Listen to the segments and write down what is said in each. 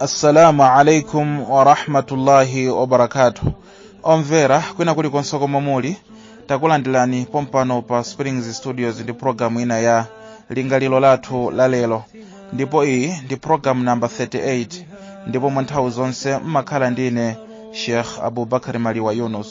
assalamu alaikum warahmatullahi wabarakatuh omvera kwina kuli konse komwe muli takulandirani pompano pa springs studios ndi programu ina ya lingaliro lathu la lero ndipo iyi ndi programu namba 38 ndipo mwa nthawi zonse mmakhala ndine sheikh abubakar maliwa yunus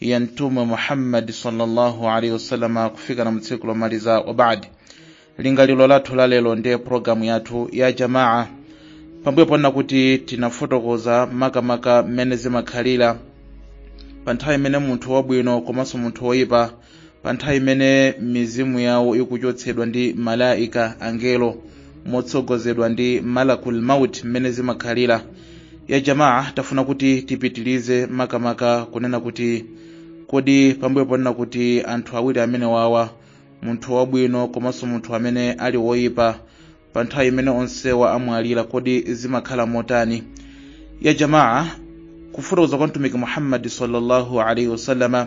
ya mtume muhammadi sallallahu alaihi wasallam kufika na mtsiku lomaliza wa baadi lingaliro lathu la lero ndiye programu yathu ya jamaa pambuyo ponna kuti tinafotokoza makamaka mmene zimakhalira pa nthawi imene munthu wabwino komanso munthu woyipa pa nthawi imene mizimu yawo ikuchotsedwa ndi malaika angelo motsogozedwa ndi malakul maut mmene zimakhalira ya jamaa tafuna kuti tipitilize makamaka kunena kuti kodi pambuyo ponena kuti anthu awiri amene wawa munthu wabwino komanso munthu amene ali woyipa pa nthawi imene onsewa amwalira kodi zimakhala motani ya jamaa kufotokoza kwa mtumiki muhammadi sallallahu alaihi wasallama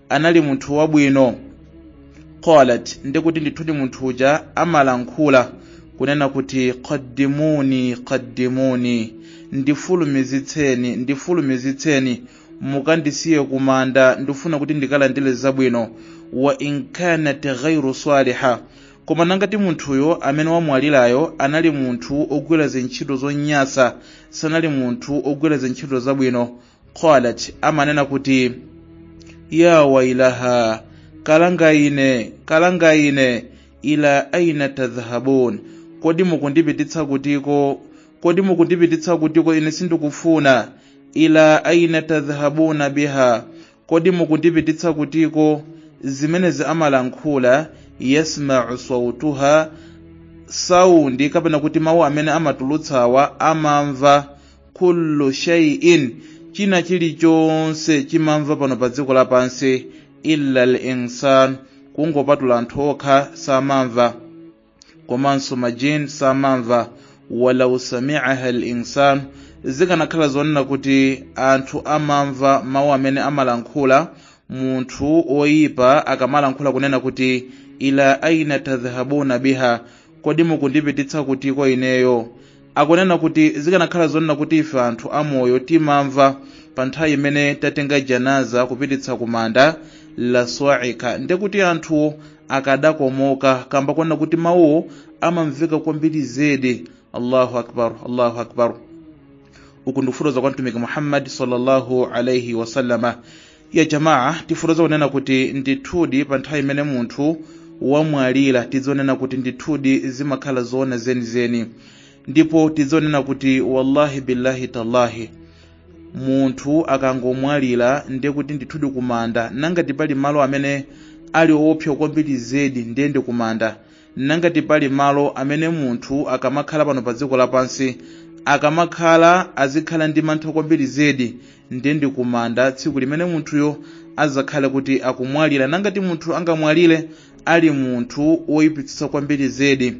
anali munthu wabwino qalat ndikuti ndithudi munthu uja amalankhula kunena kuti qaddimuni qaddimuni ndifulumizitseni ndifulumizitseni mukandisiye kumanda ndifuna kuti ndikalandire zabwino wa in kanat ghairu saliha koma nangati munthuyo amene wamwalirayo anali munthu ogwira zintchito zonyasa sanali munthu ogwira zintchito zabwino qalat amanena kuti ya wailaha kalanga ine kalanga ine ila aina tadhhabun kodi mukundipititsa kutiko kodi mukundipititsa kutiko ine sindikufuna ila aina tadhhabuna biha kodi mukundipititsa kutiko zimenezi amalankhula yasmau sautaha saundi kapena kuti mawu amene amatulutsawa amamva kullu shay'in china chilichonse chimamva pano pa dziko lapansi illa al-insan kungopatula anthu okha samamva komanso majin samamva walau sami'aha al-insan zikanakhala zoonena kuti anthu amamva mawu amene amalankhula munthu oyipa akamalankhula kunena kuti ila aina tadhhabuna biha kodi mukundipititsa kutiko ineyo akunena kuti zikanakhala zoonena kuti ife anthu amoyo timamva pa nthawi imene tatenga janaza kupititsa kumanda la swaika nde kuti anthu akadakomoka kamba konena kuti mawuwo amamveka kwambiri zedi allahu akbar allahu akbar uku ndi kufotokoza kwa mtumiki muhammadi sallallahu alaihi wasallama ya jamaa tifotoza kunena kuti ndithudi pa nthawi imene munthu wamwalira tidzanena kuti ndithudi zimakhala zoona zenizeni ndipo tidzanena kuti wallahi billahi tallahi munthu akangomwalira ndiye kuti ndithudi kumanda nangati pali malo amene ali oopsa kwambiri zedi ndiye ndi kumanda nangati pali malo amene munthu akamakhala pano pa dziko lapansi akamakhala azikhala ndi mantha kwambiri zedi ndiye ndi kumanda tsiku limene munthuyo adzakhale kuti akumwalira nangati munthu angamwalire ali munthu woyipitsitsa kwambiri zedi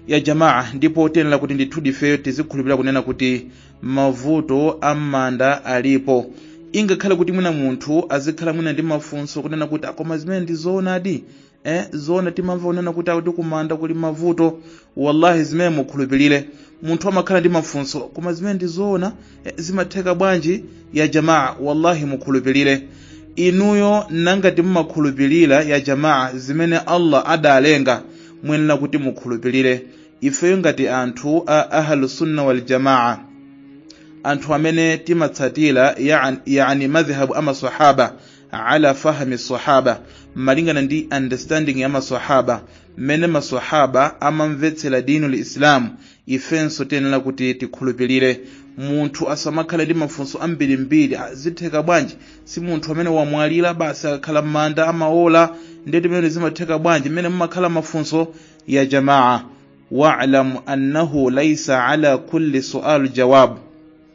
ya jamaa ndipo tiyenera kuti ndithudi ifeyo tizikhulupirira kunena kuti mavuto a m'manda alipo ingakhale kuti mwina munthu azikhala mwina ndi mafunso kunena kuti akoma zimene ndizoonadi eh zoona timamva kunena kuti akuti kumanda kuli mavuto wallahi zimene mukhulupirire munthu amakhala ndi mafunso koma zimene ndi zoona eh, zimatheka bwanji ya jamaa wallahi mukhulupirire inuyo nangati mumakhulupirira ya jamaa zimene allah adalenga muyenera kuti mukhulupirire ifeyo ngati anthu a ahlusunna waljamaa anthu amene timatsatira yani, yani madhhabu amasahaba ala fahmi sahaba malingana ndi understanding ya masahaba mmene masahaba amamvetsera dinu lislamu ifenso tiyenera kuti tikhulupirire munthu asamakhale ndi mafunso ambirimbiri zitheka bwanji si munthu amene wamwalira basi akakhala m'manda amaola ndiye zimene zimatheka bwanji mmene mumakhala mafunso ya jamaa walam annahu laisa ala kulli sual jawabu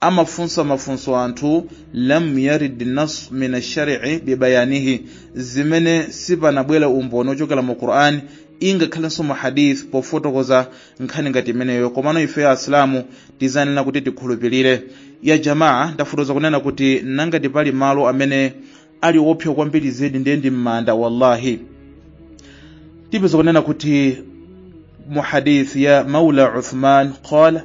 amafunsa mafunso anthu lam yarid nas min ashari'i bibayanihi zimene sipanabwere umboni ochokera mu qur'an ingakhalenso mu hadith pofotokoza nkhani ngati imeneyo komano ifeyo asilamu tizanena kuti tikhulupirire ya jamaa ndafotoza kunena kuti nangati pali malo amene ali oopsa kwambiri zedi ndiye ndi m'manda wallahi tipeza kunena kuti mu hadith ya maula uthman qala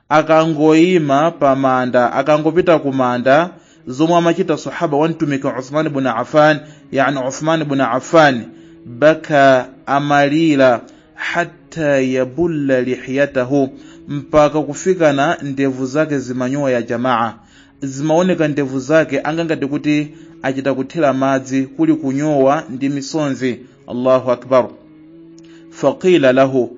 akangoyima pa manda akangopita ku manda zomwe amachita sahaba wa mtumiki uthman bun affan yani uthman bun affan baka amalira hatta yabulla lihiyatahu mpaka kufikana ndevu zake zimanyowa ya jamaa zimaoneka ndevu zake angangati kuti achita kuthira madzi kuli kunyowa ndi misonzi allahu akbar faqila lahu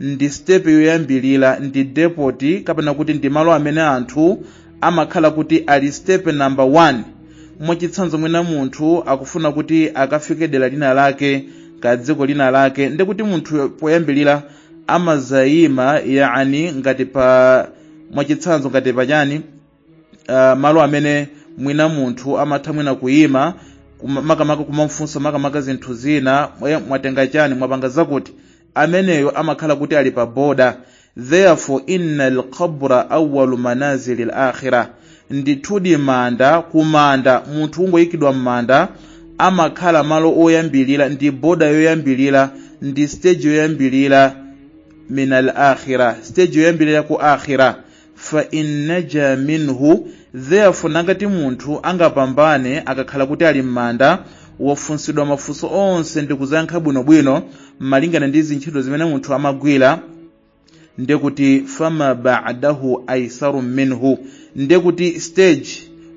ndi sitepe yoyambirira ndi depoti kapena kuti ndi malo amene anthu amakhala kuti ali sitepe namba 1 mwachitsanzo mwina munthu akufuna kuti akafike dera lina lake ka dziko lina lake ndiye kuti munthu poyambirira amazayima yani ngati pa mwachitsanzo ngati pachani uh, malo amene mwina munthu amatha mwina kuyima kuma- makamaka kumamfunsa makamaka zinthu zina mwa- mwatenga chani mwapanga zakuti ameneyo amakhala kuti ali pa boda therefore inna alqabra awalu manazili alakhira ndithudi manda kumanda munthu ungoyikidwa m'manda amakhala malo oyambirira ndi boda yoyambirira ndi stage yoyambirira min al akhira stage yoyambirira ku akhira fa in naja minhu therefore nangati munthu angapambane akakhala kuti ali m'manda wafunsidwa mafunso onse ndi kuzayankha bwinobwino malingana ndi zintchito zimene munthu amagwira nde kuti fama ba'dahu aisaru minhu nde kuti stage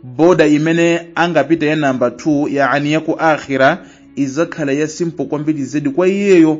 boda imene angapita ya namba 2 yaani yaku akhira izakhala ya simple kwambiri zedi kwa iyeyo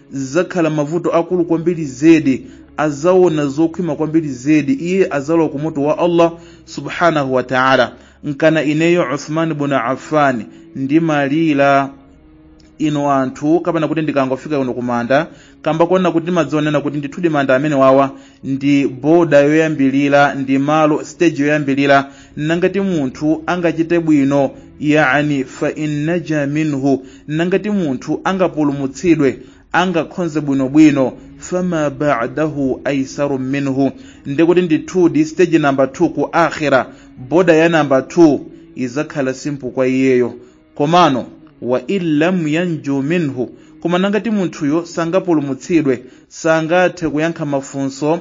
zakhala mavuto akulu kwambiri zedi azaona zokhwima kwambiri zedi iye azalowa ku moto wa allah subhanahu wa taala nkana ineyo uthman bun affan ndimalira inu anthu kapena kuti ndikangofika kuno kumanda kamba koona kuti ndimadziwa kunena kuti ndithudi manda amenewawa ndi boda yoyambirira ndi malo stage yoyambirira nangati munthu angachite bwino yani fa innaja minhu nangati munthu angapulumutsidwe angakhonze bwinobwino fama ba'dahu aisaru minhu ndekuti ndithudi stage namba 2 ku akhira boda ya namba 2 izakhala simple kwa iyeyo komano wa illam yanju minhu koma nangati munthuyo sangapulumutsidwe sangathe kuyankha mafunso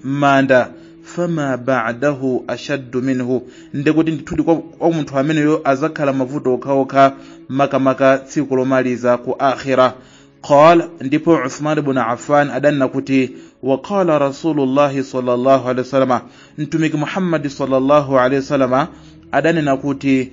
m'manda fama ba'dahu ashaddu minhu ndekuti ndithudi kwa, kwa munthu ameneyo azakhala mavuto okhaokha makamaka tsiku lomaliza ku akhira qala ndipo uthman ibn affan adanena kuti waqala rasulullahi sallallahu alaihi wasallam mtumiki muhammadi sallallahu alaihi wasallam adanena kuti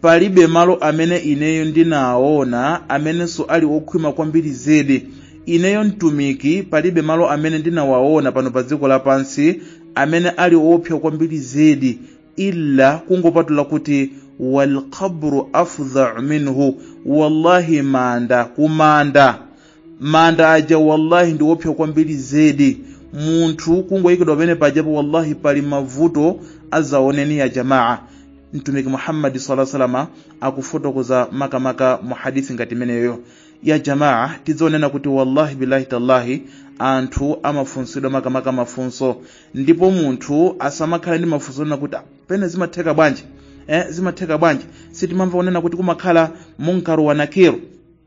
palibe malo amene ineyo ndinaona amenenso ali okhwima kwambiri zedi ineyo mtumiki palibe malo amene ndinawaona pano pa dziko lapansi amene ali oopsa kwambiri zedi illa kungopatula kuti walqabru afdhau minhu wallahi manda kumanda manda aja wallahi ndi oopsa kwambiri zedi munthu kungoyikidwa pamenepajapo wallahi pali mavuto adzaoneni ya jamaa mtumiki muhammadi sallallahu alaihi wasallam akufotokoza makamaka mu hadithi ngati imeneyo ya jamaa tidzaona kunena kuti wallahi billahi tallahi anthu amafunsidwa makamaka mafunso ndipo munthu asamakhala ndi mafunso onena kuti "Ah, pene zimatheka bwanji eh, zimatheka bwanji sitimamva onena kuti kumakhala munkaru wa nakiru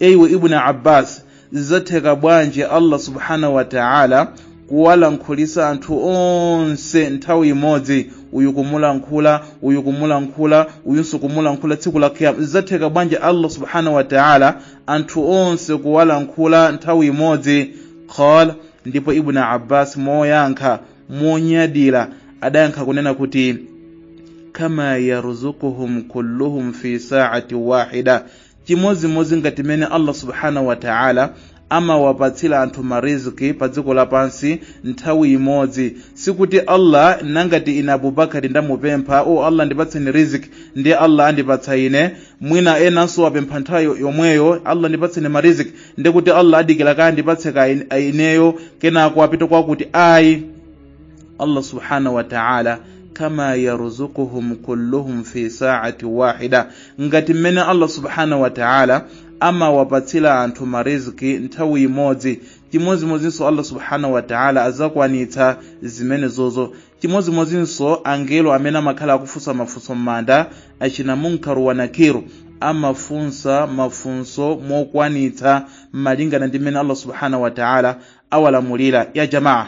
eiwe ibn abbas zatheka bwanji allah subhanahu wa taala kuwalankhulisa anthu onse nthawi imodzi uyu kumulankhula uyu kumulankhula uyunso kumulankhula tsiku la kiyama zatheka bwanji allah subhanahu wa taala anthu onse kuwalankhula nthawi imodzi qala ndipo ibn abbas moyankha monyadira adayankha kunena kuti kama yarzukuhum kulluhum fi saati wahida chimodzimodzi ngati mmene allah subhanahu wataala amawapatsira anthu mariziki pa dziko lapansi nthawi imodzi sikuti allah nangati ine abubakari ndamupempha o allah ndipatseni riziki ndi allah andipatsa ine mwina enanso wapempha nthawi yomweyo allah ndipatseni mariziki ndikuti allah adikira kaye andipatse kaye ineyo kenako apita kwakuti ayi Allah subhanahu wa ta'ala kama yarzuquhum kulluhum fi sa'ati wahida ngati mmene Allah subhanahu wa ta'ala amawapatsira anthu mariziki nthawi imodzi chimodzimodzinso Allah subhanahu wa ta'ala azakwanitsa zimenezozo chimodzimodzinso angelo amene amakhala akufunsa mafunso m'manda achina munkaru wa nakiru amafunsa mafunso mokwanitsa malingana ndi mmene Allah subhanahu wa ta'ala awalamulira ya jamaa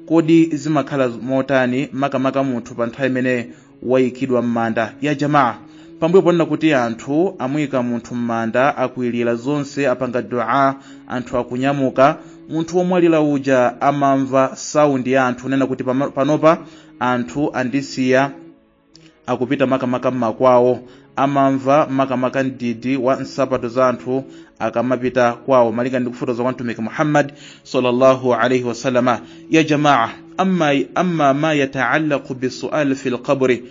kodi zimakhala motani makamaka munthu pa nthawi imene wayikidwa m'manda ya jamaa pambuyo ponena kuti anthu amuyika munthu m'manda akwilira zonse apanga dua anthu akunyamuka munthu womwalira uja amamva saundi ya anthu onena kuti pama- panopa anthu andisiya akupita makamaka m'makwawo amamva makamaka mdidi wa nsapato za anthu akamapita kwawo malinga ndi kufotoza kwa mtumiki muhammad sallallahu alaihi wasallama ya jamaa amma ma yataallaqu bisual fi lqabri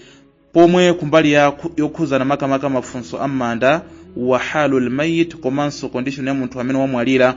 pomwe kumbali yokhuzana makamaka mafunso am'manda wa halu lmayit komanso condition ya munthu amene wamwalira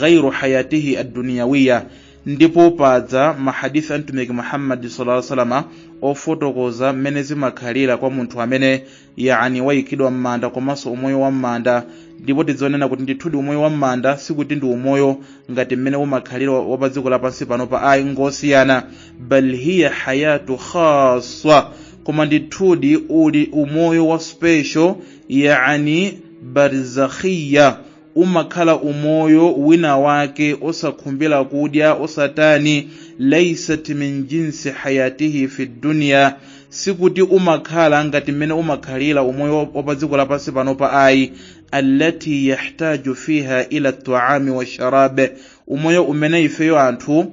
ghairu hayatihi adduniyawiya ndipo padza mahadisi a mtumiki muhammadi salaa salama ofotokoza mmene zimakhalira kwa munthu amene yani wayikidwa m'manda komanso umoyo wa m'manda ndipo tidzionena kuti ndithudi umoyo wa m'manda sikuti ndi umoyo ngati mmene umakhalira wa pa dziko lapansi panopa ayi ngosiyana bal hiya hayatu khaswa koma ndithudi uli umoyo wa special yani barzakhiya umakhala umoyo wina wake osakhumbira kudya osatani laisat min jinsi hayatihi fi dunya sikuti umakhala ngati mmene umakhalira umoyo wa pa dziko lapansi panopa ayi allati yahtaju fiha ila taami washarabe umoyo umene ifeyo anthu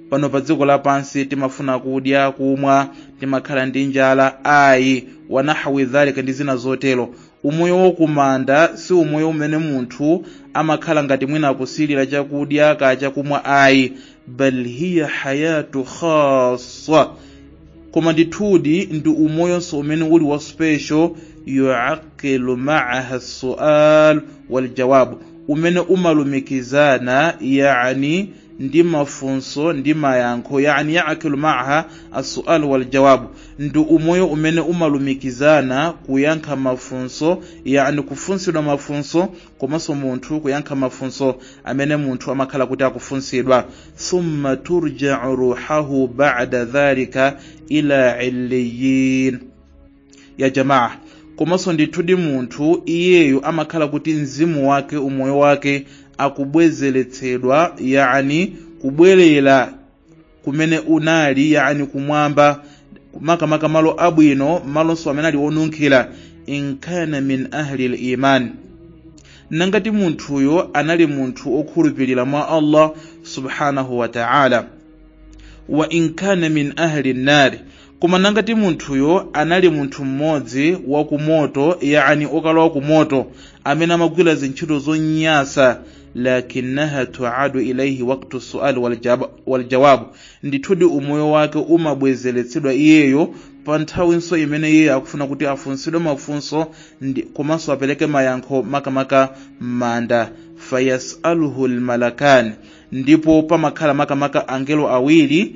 pano pa dziko lapansi timafuna kudya kumwa timakhala ndi njala ayi wanahwi dhalika ndi zina zotero umoyo wa kumanda si umoyo umene munthu amakhala ngati mwina akusilira chakudya kaya chakumwa ayi bal hiya hayatu khassa koma ndithudi ndi umoyonso umene uli wa special yuaqilu maaha sual waljawabu umene umalumikizana yani ndi mafunso ndi mayankho yani yaqilu maaha assual waljawabu ndi umoyo umene umalumikizana kuyankha mafunso yani kufunsidwa mafunso komanso munthu kuyankha mafunso amene munthu amakhala kuti akufunsidwa thumma turjau ruhahu bada dhalika ila illiyin ya jamaa komanso ndithudi munthu iyeyo amakhala kuti mzimu wake umoyo wake akubwezeretsedwa yani kubwerera kumene unali yani kumwamba makamaka malo abwino malonso amene ali onunkhira inkana min ahli liman nangati munthuyo anali munthu okhulupirira mwa allah subhanahu wa ta'ala wa inkana min ahli nnari koma nangati munthuyo anali munthu mmodzi wa kumoto yani okalowa kumoto amene amagwira zintchito zonyasa lakinaha tuadu ilaihi waktu sual waljawabu ndithudi umoyo wake umabwezeretsedwa iyeyo pa nthawinso imene iye akufuna kuti afunsidwe mafunso komanso apereke mayankho makamaka m'manda fayasaluhu lmalakani ndipo pamakhala makamaka angelo awiri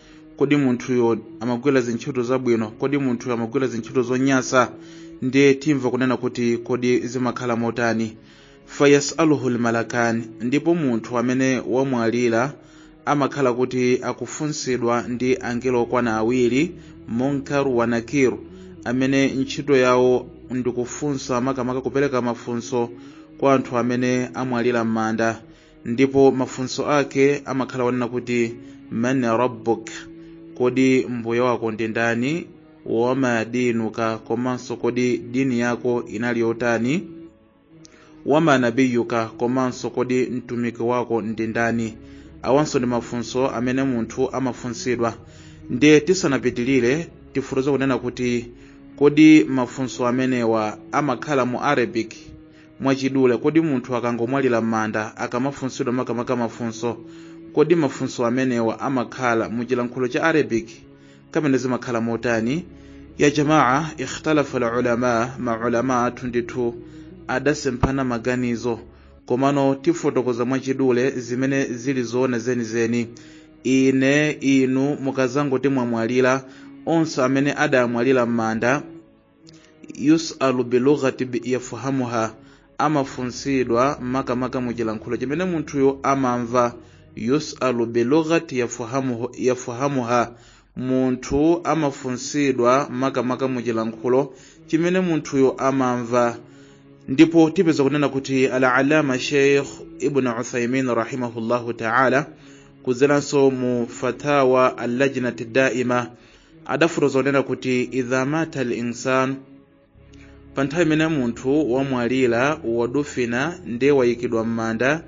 kodi munthuyo amagwira zintchito zabwino kodi munthuyo amagwira zintchito zonyasa ndiye timva kunena kuti kodi zimakhala motani fayasaluhu lmalakani ndipo munthu amene wamwalira amakhala kuti akufunsidwa ndi angelo okwana awiri munkar wa nakir amene ntchito yawo ndikufunsa makamaka kupereka mafunso kwa anthu amene amwalira m'manda ndipo mafunso ake amakhala onena kuti man rabbuk kodi mbuye wako ndi ndani wama dinuka komanso kodi dini yako inali yotani wama nabiyuka komanso kodi mtumiki wako ndi ndani awanso ndi mafunso amene munthu amafunsidwa ndiye tisanapitilire tifotokoza kunena kuti kodi mafunso amenewa amakhala mu arabic mwachidule kodi munthu akangomwalira m'manda akamafunsidwa makamaka mafunso kodi mafunso amenewa amakhala mu chilankhulo cha arabic kapena zimakhala motani ya jamaa ikhtalafa lulama maulama athu ndithu adasemphana maganizo komano tifotokoza mwachidule zimene zili zoona zenizeni ine inu mukazangoti mwamwalira onse amene adamwalira m'manda yusalu bilughati yafahamuha amafunsidwa makamaka mu chilankhulo chimene munthuyo amamva yusalu bilughati yafahamuhu- yafahamuha munthu amafunsidwa makamaka mu chilankhulo chimene munthuyo amamva ndipo tipeza kunena kuti alalama sheikh ibn uthaimin rahimahullahu taala kudzeranso mu fatawa al lajnati daima adafotokoza kunena kuti idha mata al insan pa nthawi imene munthu wamwalira wadufina ndiye wayikidwa m'manda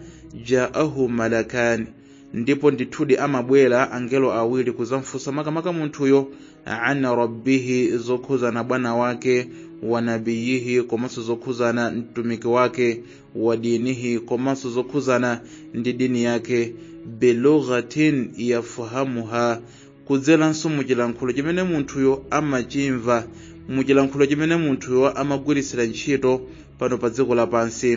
jaahu malakani ndipo ndithudi amabwera angelo awiri kuzamfunsa makamaka munthuyo an rabbihi zokhuzana bwana wake wa nabiyihi komanso zokhuzana mtumiki wake wa dinihi komanso zokhuzana ndi dini yake bilughatin yafahamuha kudzeranso mu chilankhulo chimene munthuyo amachimva mu chilankhulo chimene munthuyo amagwiritsira ntchito pano pa dziko lapansi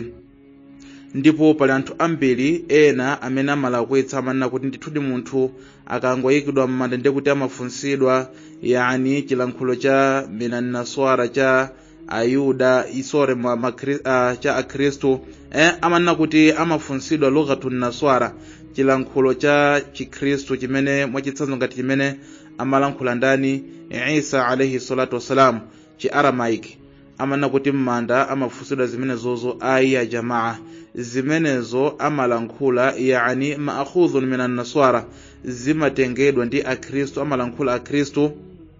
ndipo pali anthu ambiri ena amene amalakwitsa amanena kuti ndithudi munthu akangoyikidwa m'manda ndekuti amafunsidwa yani chilankhulo cha minan naswara cha ayuda sorry ma, ma, uh, cha akhristu eh, amanena kuti amafunsidwa lughatu naswara chilankhulo cha chikhristu chimene mwachitsanzo ngati chimene amalankhula ndani isa alaihi salatu wassalam chi aramaic amanena kuti m'manda amafunsidwa zimenezozo ayi ya jamaa zimenezo amalankhula yani maakhudhun minan naswara zimatengedwa ndi akhristu amalankhula akhristu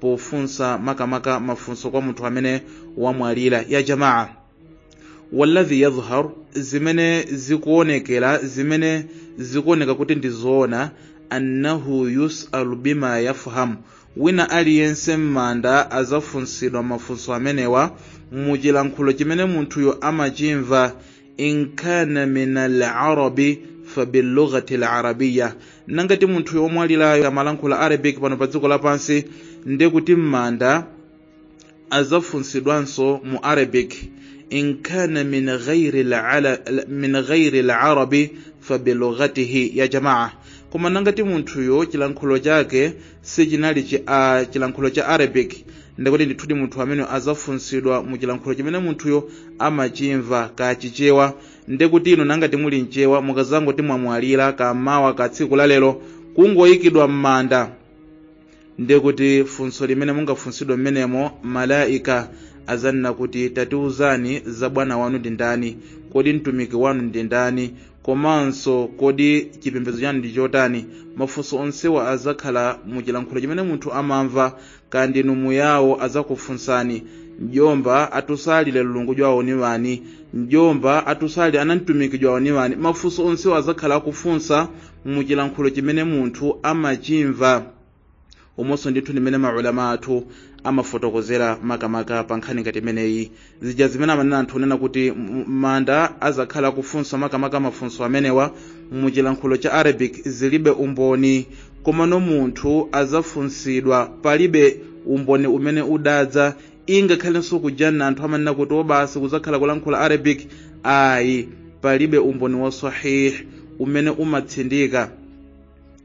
pofunsa makamaka mafunso kwa munthu amene wamwalira ya jamaa walladhi yadhhar zimene zikuonekera zimene zikuoneka kuti ndi zoona annahu yusalu bima yafhamu wina aliyense m'manda azafunsidwa mafunso amenewa muchilankhulo chimene munthuyo amachimva in kana min alarabi fabilughati larabiya nangati munthuyo omwalirayo amalankhula arabic pano pa dziko lapansi ndiye kuti m'manda azafunsidwanso mu arabic in kana min ghairi lala- la- min ghairi larabi fabilughatihi ya jamaa koma nangati munthuyo chilankhulo chake sichinali chi, a, chilankhulo cha arabic ndikuti ndithudi munthu amene azafunsidwa mu chilankhulo chimene munthuyo amachimva kaya chichewa ndikuti inu nangati muli mchewa mukazangoti mwamwalira kaya mawa kaya tsiku lalero kungoyikidwa m'manda ndikuti funso limene mungafunsidwe mmenemo malaika azanena kuti tatiuzani za bwana wanu ndi ndani kodi mtumiki wanu ndi ndani komanso kodi chipembedzo chanu ndi chotani mafunso onsewa azakhala mu chilankhulo chimene munthu amamva kaya ndinu muyawo azakufunsani mjomba atusalire mlungu jwawo ni wani mjomba atusalire ana mtumiki jwawo ni wani mafunso onsewa azakhala akufunsa mu chilankhulo chimene munthu amachimva umonso ndithu ndimene maulama athu amafotokozera makamaka pa nkhani ngati imeneyi zija zimene amanena anthu kunena kuti m- manda azakhala akufunsa makamaka mafunso amenewa mu chilankhulo cha arabic zilibe umboni komano munthu azafunsidwa palibe umboni umene udadza ingakhalenso ku janna anthu amanena kuti o basi kuzakhala kulankhula arabic ayi palibe umboni wa sahih umene umatsindika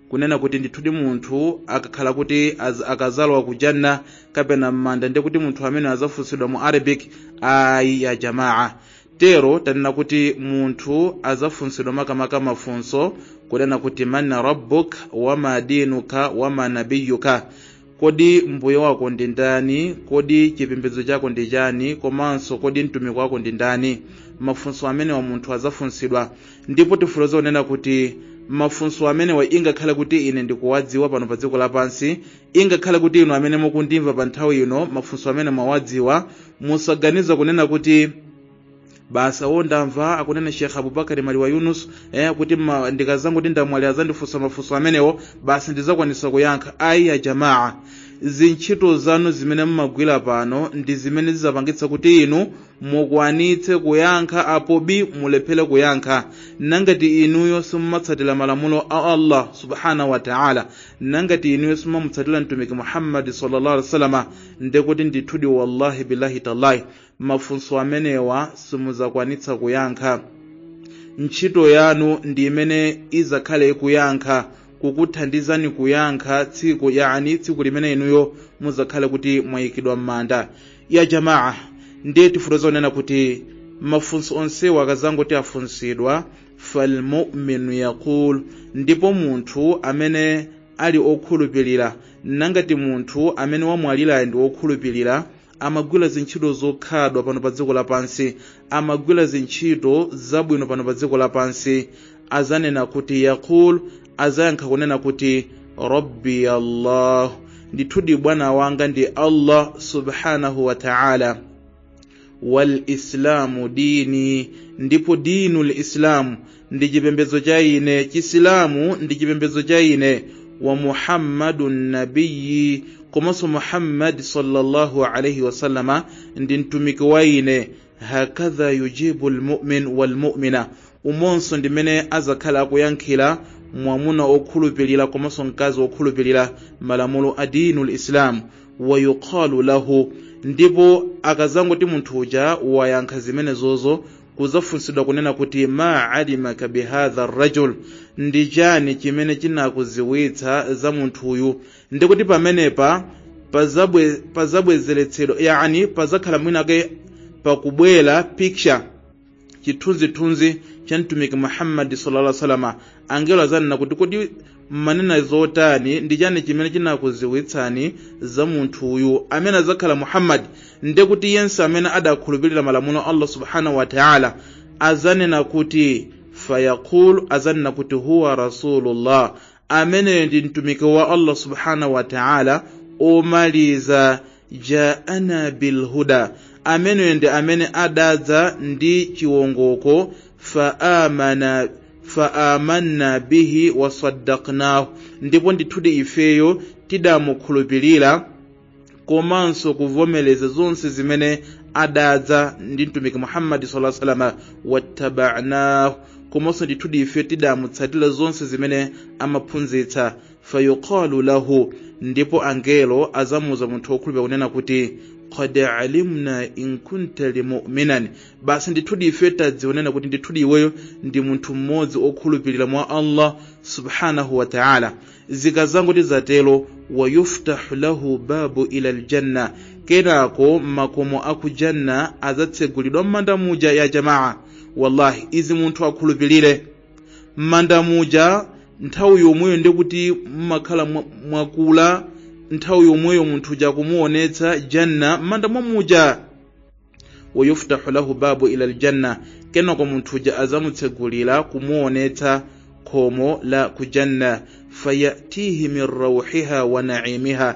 kunena kuti ndithudi munthu akakhala kuti az- akazalowa ku janna kapena m'manda ndiye kuti munthu ameneyo azafunsidwa mu arabic ayi ya jamaa tero tanena kuti munthu azafunsidwa makamaka mafunso kunena kuti man rabbuk wama dinuka wama nabiyuka kodi mbuye wako ndi ndani kodi chipembedzo chako ndi chani komanso kodi mtumiki wako ndi ndani mafunso amenewa munthu adzafunsidwa ndipo tifuloza kunena kuti mafunso amenewa ingakhale kuti ine ndikuwadziwa pano pa dziko lapansi ingakhale kuti inu amene mukundimva pa nthawi ino mafunso amene mwawadziwa musaganize kunena kuti basi awo ndamva akunena sheikh abubakari maliwa yunus eh, kuti ma- ndikazangoti ndamwalira azandifunsa mafunso amenewo basi ndizakwanitsa kuyankha ayi ya jamaa zintchito zanu zimene mumagwira pano ndi zimene zizapangitsa kuti inu mukwanitse kuyankha apo bi mulephere kuyankha nangati inuyo simumatsatira malamulo a allah subhanahu wa taala nangati inuyo simumamutsatira mtumiki muhammadi sallallahu alaihi wasallam ndekuti ndithudi wallahi billahi tallahi mafunso amenewa simuzakwanitsa kuyankha ntchito yanu ndi imene izakhale ikuyankha kukuthandizani kuyankha tsiku yani tsiku limene inuyo muzakhale kuti mwayikidwa m'manda ya jamaa ndiye tifutoza kunena kuti mafunso onsewa akazangoti afunsidwa falmuminu yaqul ndipo munthu amene ali okhulupirira nangati munthu amene wamwalirayo ndi okhulupirira amagwira zintchito zokhadwa pano pa dziko lapansi amagwira zintchito zabwino pano pa dziko lapansi azanena kuti yaqul azayankha kunena kuti rabbiya allahu ndithudi bwana wanga ndi allah subhanahu wa ta'ala wal islamu dini ndipo dinul islamu ndi chipembedzo cha ine chisilamu ndi chipembedzo cha ine wa muhammadun nabiyi komanso muhammadi sallallahu alaihi wasallama ndi mtumiki wa ine hakadha yujibu lmumin walmumina umonso ndimene azakhala akuyankhira mwamuna okhulupirira komanso mkazi okhulupirira malamulo a dinu lislamu wayuqalu lahu ndipo akazangoti munthu uja wayankha zimenezozo kuzafunsidwa kunena kuti ma alimaka bihadha rajul ndi chani chimene chinakuziwitsa za munthuyu ndikuti pamenepa pazabwezeretsedwa yani pazakhala mwinake pakubwera picture chithunzithunzi cha mtumiki muhammadi sallallahu alaihi wasallam angelo azanena kuti kodi mmanena zotani ndi chani chimene chinakuziwitsani za munthu uyu amene adzakhala muhammadi nde kuti yense amene adakhulupirira malamulo a allah subhanahu wa taala azanena kuti fayaqul azanena kuti huwa rasulullah ameneyo ndi mtumiki wa allah subhanahu wa taala omaliza jaana bilhuda ameneyo ndi amene adadza ndi chiwongoko faamanna bihi wasaddaqnahu ndipo ndithudi ifeyo tidamukhulupirira komanso kuvomereza zonse zimene adadza ndi mtumiki muhammadi sallallahu alaihi wasallam wattaba'nahu komanso ndithudi ife tidamutsatira zonse zimene amaphunzitsa fayuqalu lahu ndipo angelo azamuuza munthu wokhulupira kunena kuti qad alimna in kunta limuminan basi ndithudi ife tadzionena kuti ndithudi iweyo ndi munthu mmodzi okhulupirira mwa allah subhanahu wa taala zikazangoti zatero wayuftahu lahu babun ila ljanna kenako makomo aku janna azatsegulidwa mmanda muja ya jamaa wallahi izi munthu akhulupirire m'manda muja nthawi yomweyo ndekuti mumakhala mwakula nthawi yomweyo munthu uja kumuonetsa janna m'manda mwa muja wayuftahu lahu babu ila aljanna kenako munthu uja azamutsegulira kumuonetsa khomo la kujanna fayatihi min rauhiha wa naimiha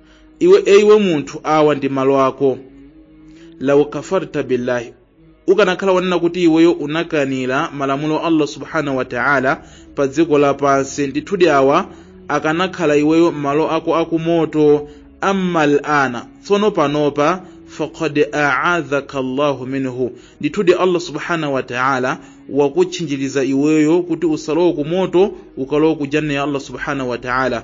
iwe e iwe munthu awa ndi malo ako law kafarta billahi ukanakhala wonena kuti iweyo unakanira malamulo a allah subhanahu wa ta'ala pa dziko lapansi ndithudi awa akanakhala iweyo malo ako akumoto amma al'ana tsono panopa faqad a'adhaka allahu minhu ndithudi allah subhanahu wa ta'ala wakutchinjiriza iweyo kuti usalowe kumoto ukalowe ku janna ya allah subhanahu wa ta'ala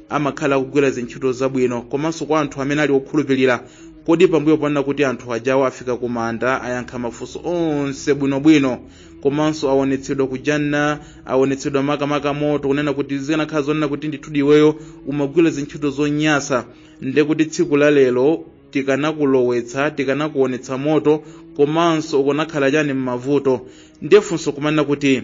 amakhala akugwira zintchito zabwino komanso kwa anthu amene ali okhulupirira kodi pambuyo ponena kuti anthu ajawo afika ku manda ayankha mafunso onse bwinobwino komanso awonetsedwa kujanna awonetsedwa makamaka moto kunena kuti zikanakhala zonena kuti ndithudi iweyo umagwira zintchito zonyasa nde kuti tsiku la lero tikanakulowetsa tikanakuonetsa moto komanso ukanakhala chani m'mavuto ndiye funso kumanena kuti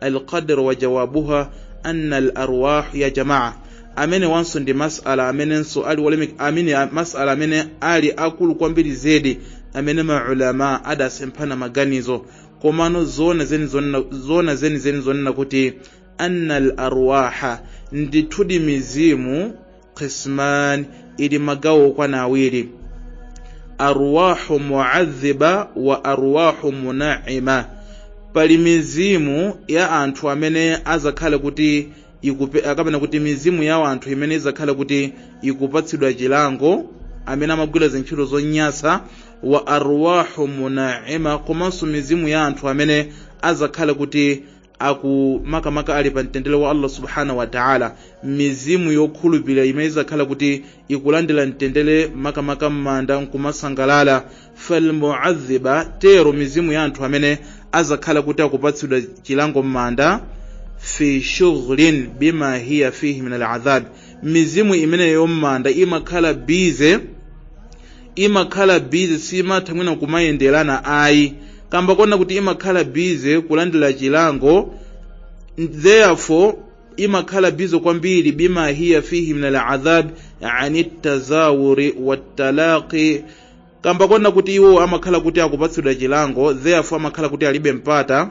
alqadr wa jawabuha anna alarwah ya jamaa amene wanso ndi masala amenenso ali wolemek amene a- masala amene ali akulu kwambiri zedi amene maulama adasemphana maganizo komano zona zeni zonena- zona zeni zeni zonena kuti anna alarwaha ndithudi mizimu qisman ili magawo okwana awiri arwahu muadhiba wa arwahu munaima pali mizimu ya anthu amene azakhala kuti aka- kapena kuti mizimu ya anthu imene izakhala kuti ikupatsidwa chilango amene amagwira zintchito zonyasa wa arwahu munaima komanso mizimu ya anthu amene azakhala kuti aku makamaka ali pa mtendere wa allah subhanahu wa taala mizimu yokhulupirira imene izakhala kuti ikulandira mtendere makamaka m'manda nkumasangalala falmuadhiba tero mizimu ya anthu amene azakhala kuti akupatsidwa chilango m'manda fi shughlin bima hiya fihi min aladhab mizimu imeneyo m'manda imakhala bize imakhala bize simatha mwina kumayenderana ayi kamba kona kuti imakhala bize kulandira chilango therefore imakhala bize kwambiri bima hiya fihi min aladhab ani tazawuri watalaqi kamba kona kuti iwo amakhala kuti akupatsidwa chilango therefore amakhala kuti alibe mpata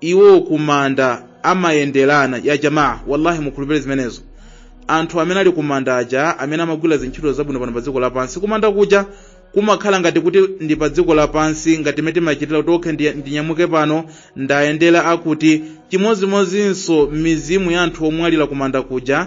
iwo kumanda amayenderana ya jamaa wallahi mukhulupire zimenezo anthu amene ali kumanda aja amene amagwira zintchito zabwino pano pa dziko lapansi kumanda kuja kumakhala ngati kuti ndi pa dziko lapansi ngati mmene timachitira kuti okhe ndi- ndinyamuke pano ndayendera akuti chimodzimodzinso mizimu ya anthu omwalira kumanda kuja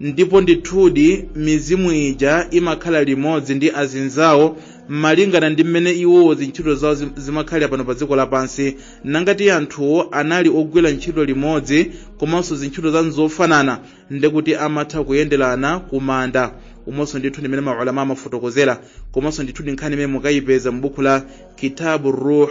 ndipo ndithudi mizimu ija imakhala limodzi ndi azinzawo malingana ndi mmene iwowo zintchito zawo zim- zimakhalira pano pa dziko lapansi nangati anthuwo anali ogwira ntchito limodzi komanso zintchito zawo nzofanana ndekuti amatha kuyenderana kumanda umonso ndithudi mmene maulama amafotokozera komanso ndithudi nkhani imene mukayipeza m'buku la kitabu ruh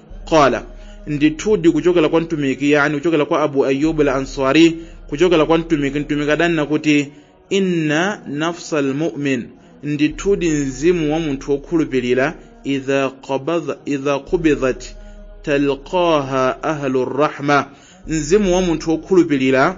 qala ndithudi kuchokera kwa mtumiki yani kuchokera kwa abu ayubu al answari kuchokera kwa mtumiki mtumiki adanena kuti inna nafsa almu'min ndithudi mzimu wa munthu wokhulupirira idha qabadha idha qubidhat talqaha ahlu rahma mzimu wa munthu wokhulupirira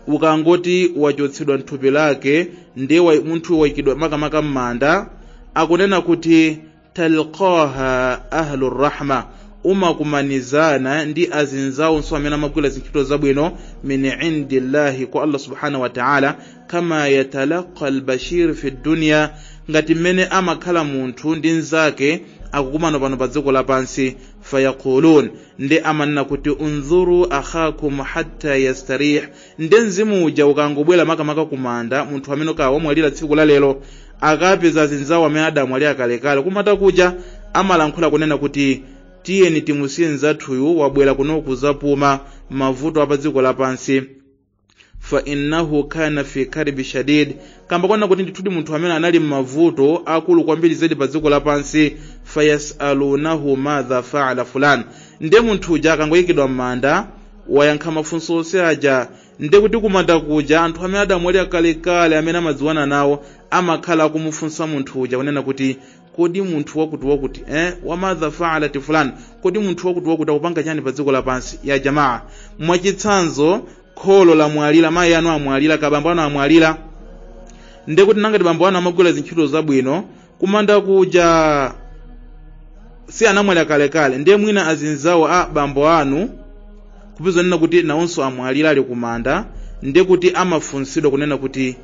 ukangoti wachotsedwa mthupi lake ndiye wa- munthu waikidwa makamaka m'manda akunena kuti talqaha ahlu rahma umakumanizana ndi azinzawonso amene amagwira zintchito zabwino min indillahi kwa allah subhanahu wa taala kama yatalaqa albashir fi dunya ngati mmene amakhala munthu ndi mnzake akukumana pano pa dziko lapansi fayaqulun nde amanena kuti unzuru akhakum hatta yastarih nde mzimu uja ukangobwera makamaka kumanda munthu amene kawamwalira tsiku la lero akapeza azinzawo amene adamwalira kalekale kumanda kuja amalankhula kunena kuti tiyeni timusiye mzathuyu wabwera kuno kuzapuma mavuto apa dziko lapansi fa innahu kana fi karbi shadid kamba konena kuti ndithudi munthu amene anali m'mavuto akulu kwambiri zedi pa dziko lapansi fayasalunahu madha faala fulan nde munthu uja akangoyikidwa m'manda wayankha mafunso onse aja nde kuti kumanda kuja anthu amene adamwalira kalekale amene amadziwana nawo amakhala akumufunsa munthu uja kunena kuti kodi munthu wakuti wakuti eh wa madha faalat fulan kodi munthu wakuti wakuti akupanga chani pa dziko lapansi ya jamaa mwachitsanzo kholo lamwalira mayi anu amwalira ka bambo anu amwalira ndekuti nangati bambo anu amagwira zintchito zabwino kumanda kuja si anamwalira kalekale ndiye mwina azinzawo a bambo anu kupeza kunena kuti nawonso amwalira ali kumanda ndiye kuti amafunsidwa kunena kuti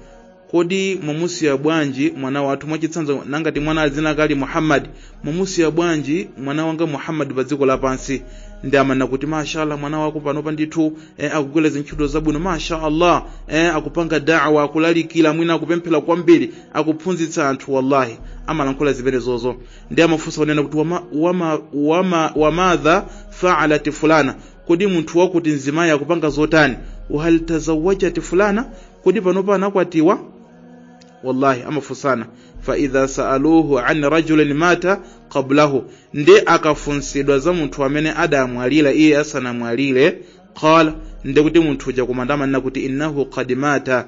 kodi mwamusiya bwanji mwana wathu mwachitsanzo nangati mwana dzina lake ali muhammadi mwamusiya bwanji mwana wanga muhammadi pa dziko lapansi nde amanena kuti mashallah mwana wako panopa ndithu eh, akugwira zintchito zabwino mashallah eh, akupanga dawa akulalikira mwina akupemphera kwambiri akuphunzitsa anthu wallahi amalankhula zimenezozo nde amafunsa kunena kuti wama, wama, wama, wamadha faalat fulana kodi munthu wakuti mzimayi akupanga zotani wahal tazawajat fulana kodi panopa anakwatiwa wallahi amafunsana faidha saaluhu an rajulin mata qablahu nde akafunsidwa za munthu amene adamwalira iye asanamwalire qala ndekuti munthu uja kumanda amanena kuti innahu qad mata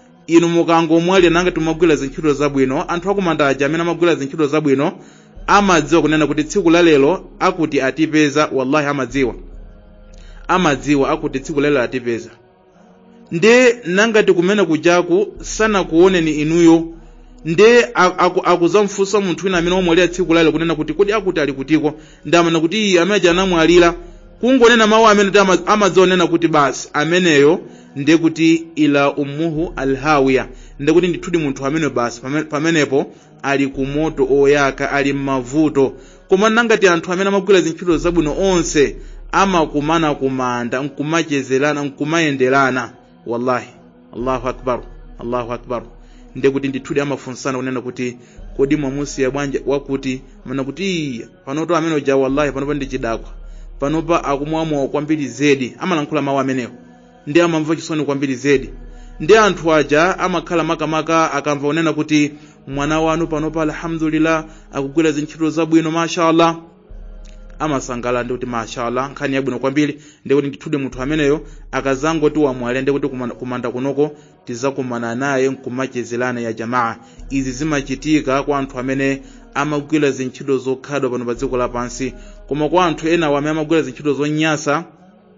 inu mukangomwalira nangati magwira zintchito zabwino anthu akumanda aja amene amagwira zintchito zabwino amadziwa kunena kuti tsiku la lero akuti atipeza wallahi amadziwa amadziwa akuti tsiku la lero atipeza nde nangati kumene kujaku sanakuoneni inuyo nde a- aku- akuzamfunsa munthu wina amene wamwalira tsiku la lero kunena kuti kodi akuti ali kutiko ndi amene kuti iyi amene aja anamwalira kungonena mawu amene kuti ama- amadzionena kuti basi ameneyo ndiye kuti ila ummuhu alhawiya ndiye kuti ndithudi munthu amene basi pame- pamenepo ali ku moto oyaka ali m'mavuto koma nangati anthu amene amagwira zintchito zabwino onse amakumana kumanda nkumachezerana nkumayenderana wallahi allahu akbar allahu akbar ndiye kuti ndithudi amafunsana kunena kuti kodi mwamusiya bwanji wakuti mana kuti iya panoto amene uja wallahi panopa ndi chidakwa panopa akumwa mowa kwambiri zedi amalankhula mawu amenewo ndi amamva chisoni kwambiri zedi ndi anthu aja amakhala makamaka akamva kunena kuti mwana wanu panopa alhamdulillah akugwira zintchito zabwino mashallah amasangala ndi kuti mashallah nkhani yabwino kwambiri ndi kuti ndithudi munthu ameneyo akazangoti wamwalira ndi kuti kumanda- kumanda kunoko tizakumana naye nkumachezerana ya jamaa izi zimachitika kwa anthu amene amagwira zintchito zokhazwa pano pa dziko lapansi koma kwa anthu enawo amene amagwira zintchito zonyasa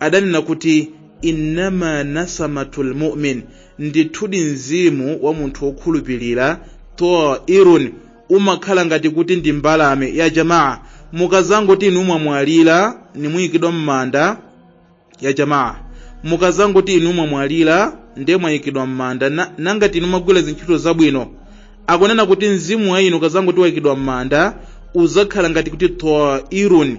adanena kuti innama nasamatu lmumin ndithudi mzimu wa munthu wokhulupirira tairun umakhala ngati kuti ndi mbalame ya jamaa mukazangoti inu mwamwalira ndi mwayikidwa m'manda ya jamaa mukazangoti inu mwamwalira ndiye mwayikidwa m'manda na- nangati inu mumagwira zintchito zabwino akunena kuti mzimu wa inu ukazangoti wayikidwa m'manda uzakhala ngati kuti tairun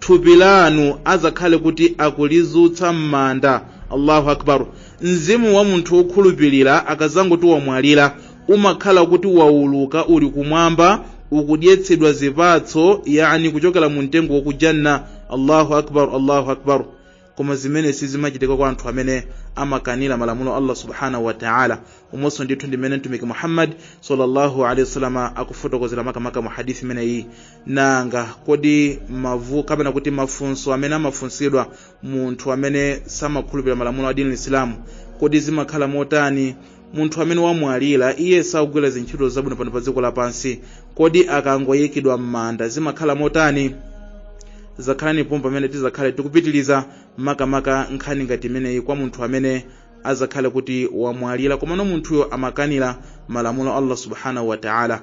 thupi lanu azakhale kuti akulizutsa m'manda allahu akbar mzimu wa munthu wokhulupirira akazangoti wamwalira umakhala kuti wauluka uli kumwamba ukudyetsedwa zipatso yani kuchokera mu mtengo wa ku janna allahu akbar allahu akbar koma zimene sizimachitika kwa anthu amene amakanira malamulo a allah subhanahu wa taala umonso ndithu ndimene mtumiki muhammad sallallahu alaihi wasallam akufotokozera makamaka mu hadithi imene iyi nanga kodi mavu kapena kuti mafunso amene amafunsidwa munthu amene samakhulupirira malamulo a dinil islamu kodi zimakhala motani munthu amene wamwalira iye sakugwira zintchito zabwino pano pa dziko lapansi kodi akangoyikidwa m'manda zimakhala motani zakhalani pomwe pamene tizakhale tikupitiriza makamaka nkhani ngati imeneyi kwa munthu amene azakhale kuti wamwalira komano munthuyo amakanira malamulo a allah subhanahu wataala